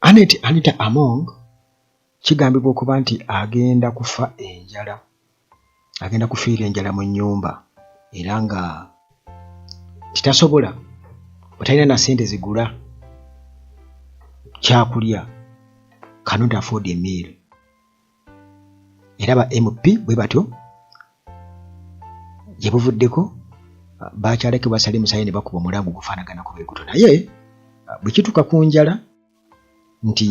Anet Anita Among kigambibwa okuba nti agenda kufa enjala agenda kufiira enjala mu nnyumba era nga titasobola batalina na sente zigula kyakulya cannot afford a meal era ba mp bwe batyo gye buvuddeko bakyaleke basale musaayi ne bakuba omulango gufaanagana ku beguto naye bwe kituuka ku njala nti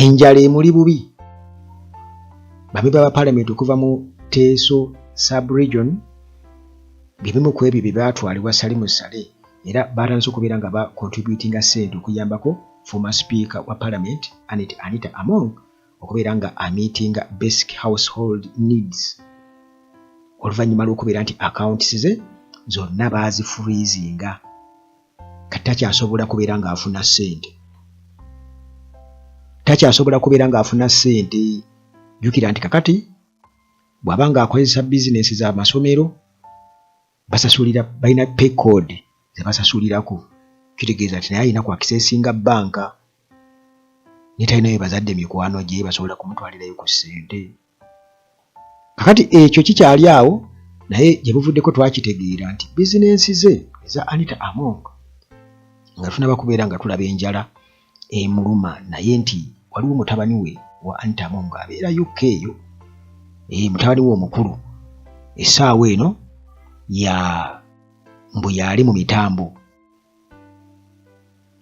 enjala emuli bubi bamemba ba palamenti okuva mu teeso subregion byebimu ku ebyo bye baatwalibwa salimu sale era baatandise okubeera nga bakontributinga ssente okuyambako former speaker wa parliament Annet Anita Among okubeera nga amitinga basic household needs oluvannyuma lw'okubeera nti accounts ze zonna baazifurizinga kati takyasobola kubeera ng'afuna ssente takyasobola kubeera ng'afuna ssente jjukira nti kakati bw'aba ng'akozesa bizinensi z'amasomero basasulira balina pay code zebasasulirako kitegeeza nti naye alina kwakisesinga bbanka ne talina ye bazadde mikwano gye basobola kumutwalirayo ku ssente kakati ekyo kikyali awo naye gye buvuddeko twakitegeera nti bizinensi ze eza anita among nga tunaba kubeera nga tulaba enjala emuluma naye nti waliwo mutabani we wa Antamu ng'abeera UK eyo e, mutabani we omukulu essaawa eno ya mbu yaali mu mitambo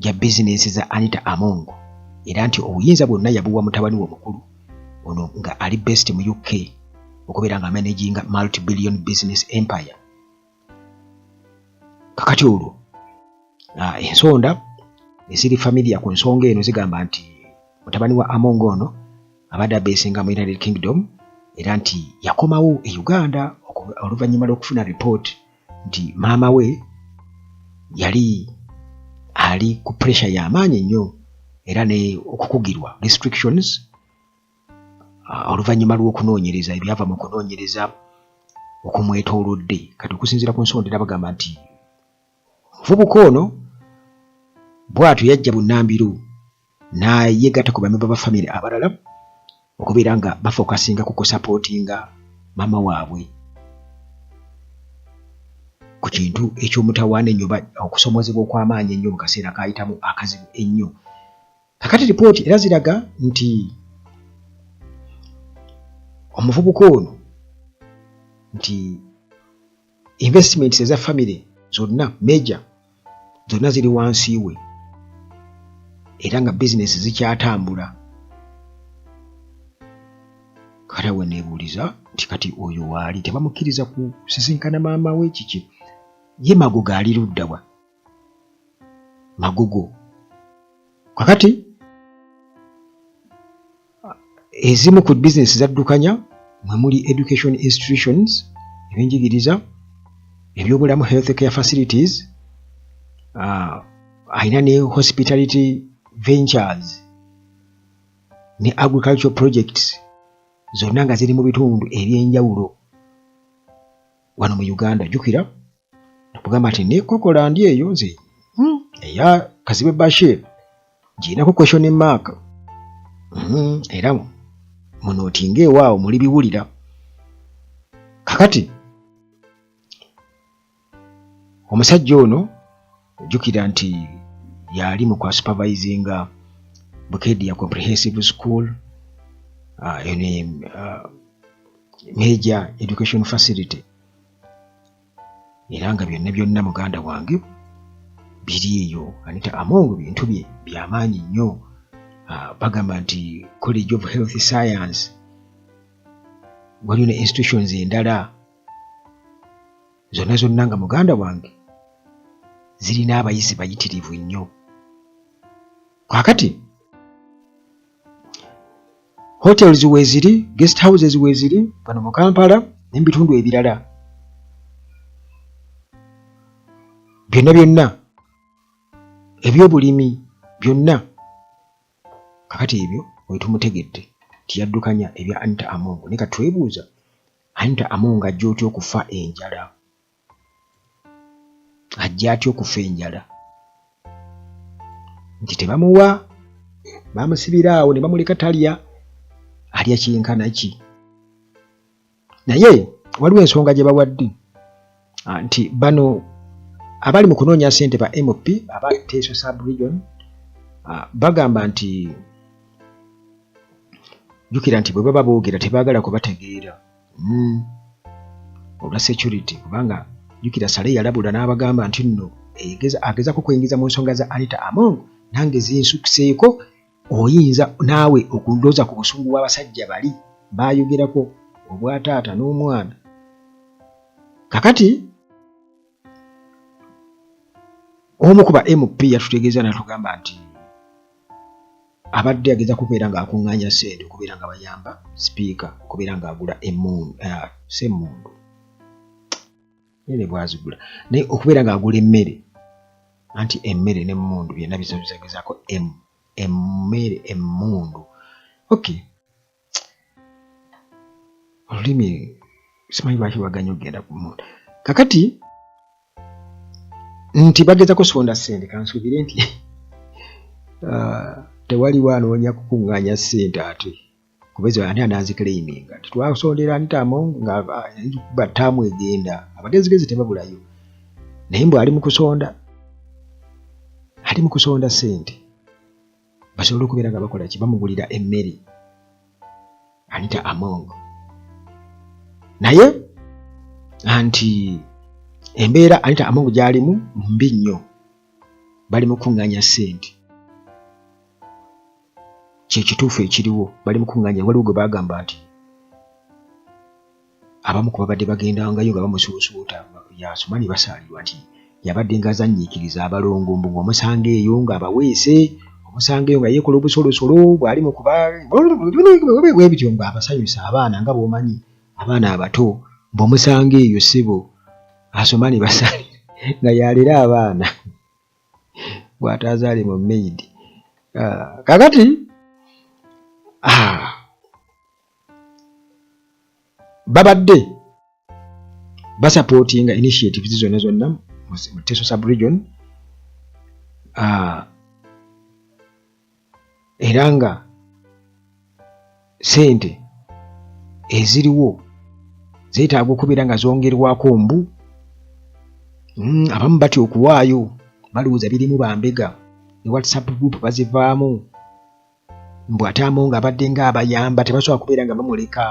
gya bizinensi za Anita Among era nti obuyinza bwonna yabuwa mutabani we omukulu ono nga ali best mu UK okubeera nga managinga multi billion business empire kakati olwo ah, ensonda eziri familia ku nsonga eno zigamba nti mutabani wa among ono abadde abesinga mu united kingdom era nti yakomawo e uganda oluvannyuma lw'okufuna report nti maama we yali ali ku pressure y'amaanyi nnyo era ne okukugirwa restrictions ah, oluvannyuma lw'okunoonyereza ebyava mu kunoonyereza okumwetoolodde kati okusinziira ku nsonda era bagamba nti omuvubuka ono bwatyo yajja bunnambiru n'ayegatta ku bamemba ba famire abalala okubeera nga bafokasinga ku kusapootinga maama waabwe ku kintu eky'omutawaana ennyo okusomozebwa okw'amaanyi ennyo mu kaseera kaayitamu akazibu ennyo kakati lipooti era ziraga nti omuvubuka ono nti investments eza famire zonna meja zonna ziri wansi we era nga bizinesi zikyatambula kale we neebuuliza nti kati oyo waali tebamukkiriza kusisinkana maama we kiki ye mago gaaliruddawa magugu kakati ezimu ku bizinesi zaddukanya mwe muli education institutions ebyenjigiriza ebyobulamu health care facilities uh, alina ne hospitality ventures ne agricultural projects zonna nga ziri mu bitundu ebyenjawulo wano mu uganda jukira namugamba nti nekokola ndi eyo nze hmm, eya kazibe bashir girinako question mark hmm, era muno otinga ewaawo muli biwulira kakati omusajja ono ojjukira nti yali mu kwa supervisinga bukedia comprehensive school uh, ah, ene uh, ah, major education facility era nga byonna byonna muganda wange biri eyo anita among bintu bye byamaanyi nnyo ah, bagamba nti college of health science waliyo ne institutions endala zonna zonna nga muganda wange zirina abayizi bayitirivu nnyo kakati hotels weeziri guest houses weeziri bano mu kampala ne mu bitundu ebirala byonna byonna ebyobulimi byonna kakati ebyo wetumutegedde tiyaddukanya ebya anita amongo ne katwebuuza anita amongo ajja otya okufa enjala ajja atya okufa enjala nti tebamuwa bamusibira awo ne bamuleka talya alya kyenkana ki naye waliwo ensonga gye bawadde ah, nti bano abali mu kunoonya sente ba mp aba teso subregion ah, bagamba nti jukira nti bwe baba boogera tebaagala kubategeera mm. olwa security kubanga jukira sale yalabula n'abagamba nti nno agezako kweyingiza mu nsonga za anita among nange zinsukiseeko oyinza naawe okundooza ku busungu bw'abasajja bali baayogerako obwataata n'omwana kakati omu kuba mp yatutegeeza natugamba nti abadde ageza kubeera ng'akuŋŋaanya ssente okubeera nga bayamba sipiika okubeera ng'agula emundu eh, si emundu ere bwazigula naye okubeera ng'agula emmere anti emmere n'emmundu byonna bizabizagezaako emmere emmundu okay olulimi simanyi lwaki lwaganya okugenda ku muntu kakati nti bageza kusonda sente kansuubire nti ah, tewaliwo anoonya kukuŋŋaanya sente ate kubeza ani anazikleiminga titwasondera ntamo nga batamu egenda abagezigezi tebabulayo naye mbu ali mukusonda ali mukusonda sente basobola okubeera nga bakola ki bamugulira emmere anita among naye anti embeera anita among gyalimu mbi nnyo bali mukuŋŋanya ssente kyekituufu ekiriwo bali mukuŋŋanya waliwo gwe bagamba nti Abamu ku babadde bagendangayo nga bamusuusuuta y'asoma ne basaalirwa nti yabadde ng'azannyiikiriza abalongo mbu ng'omusanga eyo ng'abaweese omusanga eyo nga yeekola obusolosolo bw'ali mu kuba bwe bityo ng'abasanyusa abaana nga bw'omanyi abaana abato bw'omusanga eyo ssebo asoma ne basaali nga yalera abaana bw'ataazaale mu maid ah, kakati ah, babadde basapootinga initiatives zonna zonna mu teso subregion ah, era nga sente eziriwo zeetaaga okubeera nga zongerwako mbu mm, abamu batya okuwaayo balowooza birimu bambega ne whatsapp group bazivaamu mbu ate amonga abadde nga abayamba tebasobola kubeera nga bamuleka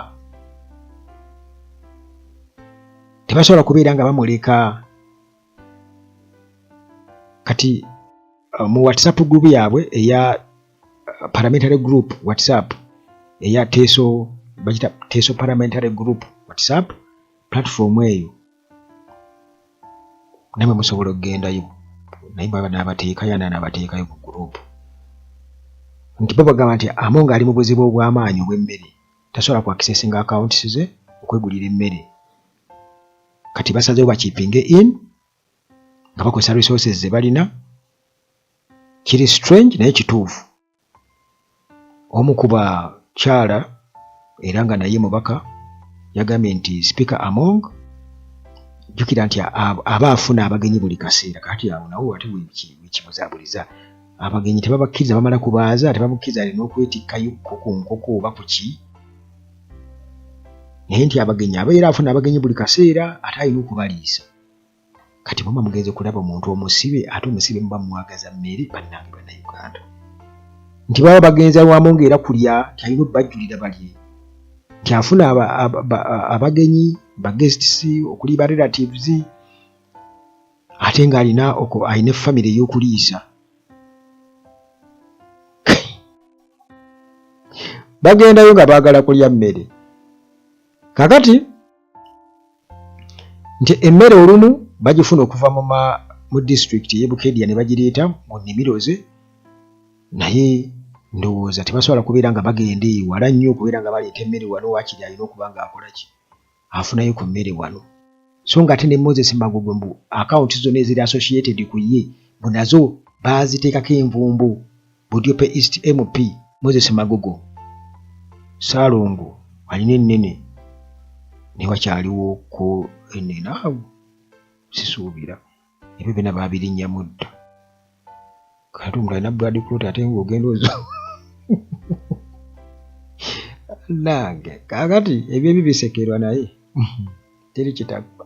tebasobola kubeera nga bamuleka kati uh, mu whatsapp group yaabwe eya uh, parliamentary group whatsapp eya teso bakita teso parliamentary group whatsapp platform eyo namwe musobola okugendayo naye baba nabateekayo ana nabateekayo ku gurupu nti bo bagamba nti amu nga ali mu buzibu obw'amaanyi obw'emmere tasobola kuakisesinga akawuntisi ze okwegulira emmere kati basazewo bakipinge in nga bakozesa resources ze balina kiri strange naye kituufu Omu ku bakyala era nga naye mubaka yagambye nti sipiika Among jjukira nti aba afuna abagenyi buli kaseera kati awo nawo ate wekibuzabuliza abagenyi tebabakkiriza bamala kubaaza tebabukkiriza alina okwetikkayo ko ku nkoko oba ku ki naye nti abagenyi abeera afuna abagenyi buli kaseera ate alina okubaliisa Kati muba mugenze kulaba omuntu omusibe ate omusibe muba mwagaza mmere bannange bannayuganda nti baba bagenze wamu ng'era kulya nti alina obbajjulira balye nti afuna abagenyi bagests okuli ba relatives ate ng'alina alina efamire ey'okuliisa bagendayo nga baagala kulya mmere kakati nti emmere olumu bagifuna okuva mu disitulikiti ey'e Bukedya ne bagireeta mu nnimiro ze naye ndowooza tebasobola kubeera nga bagenda eyo wala nnyo okubeera nga baleeta emmere wano waakiri alina okuba ng'akola ki afunayo ku mmere wano so nga ate ne moses magogo mbu akawunti zonna eziri associated ku ye mbu nazo baaziteekako envumbo Budiope East MP Moses Magogo Salongo alina ennene naye wakyaliwo ko ennene awo sisuubira ebyo byona baabirinnyamu dda kati omuntu alina brad clot ate nga ogenda ozo nange kakati ebyo ebibisekerwa naye teri kitagwa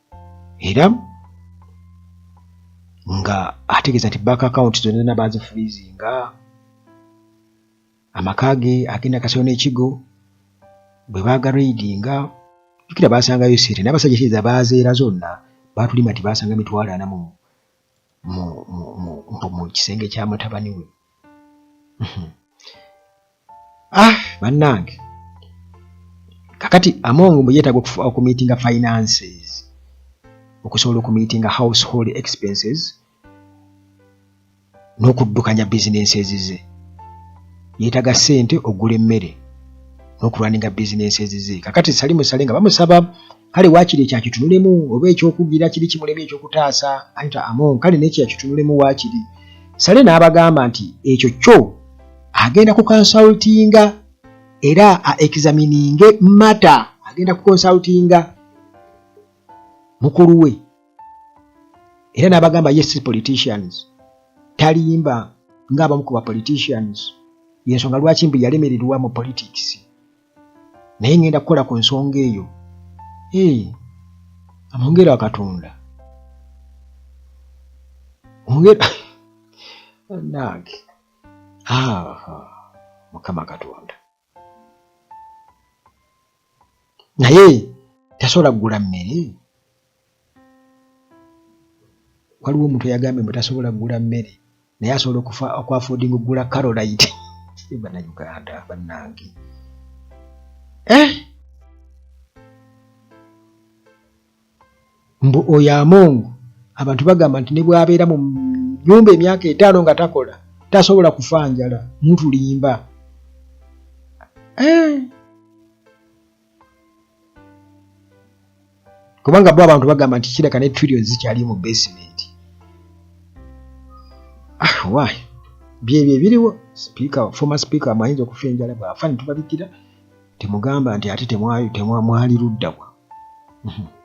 era nga ategeeza nti bank account zonna baazifurizinga amaka ge agenda kasolo n'ekigo bwe baagaraidinga jukira baasangayo sente n'abasajja kiriza baazeera zonna baatulima nti baasanga mitwalo ana mu mu kisenge kya mutabani we ah bannange kakati amongo mbu yeetaaga okumiitinga finances okusobola okumiitinga household expenses n'okuddukanya bizinensi ezize yeetaga ssente ogula emmere n'okulwaninga bizinensi ezize kakati sali musale nga bamusaba kale waakiri ekyo akitunulemu oba ekyokugira kiri kimulemu ekyokutaasa anta amon kale nekyo akitunulemu waakiri sale n'abagamba nti ekyo kyo agenda kukonsultinga era aexamininge mata agenda kukonsultinga mukulu we era n'abagamba yes politicians talimba ng'abamu ku ba politicians yensonga lwaki mbu yalemererwa mu politics naye ngenda kukola ku nsonga eyo ee amwongere akatonda ongera nange mukama katonda naye tasobola kugula mmere waliwo omuntu eyagambye mbu tasobola kugula mmere naye asobola okufa okwafodinga okugula carolite bana uganda banange eh? mbu oyo amongo abantu bagamba nti ne bwabeera mu nyumba emyaka etaano nga takola tasobola kufa njala mutulimba eh? kubanga bo abantu bagamba nti kireka ne trillion zikyali mu basement ah, why byebyo ebiriwo speaker former speaker amayinza okufa enjala bwafa netubabikira temugamba nti ate temwali luddawa mhm.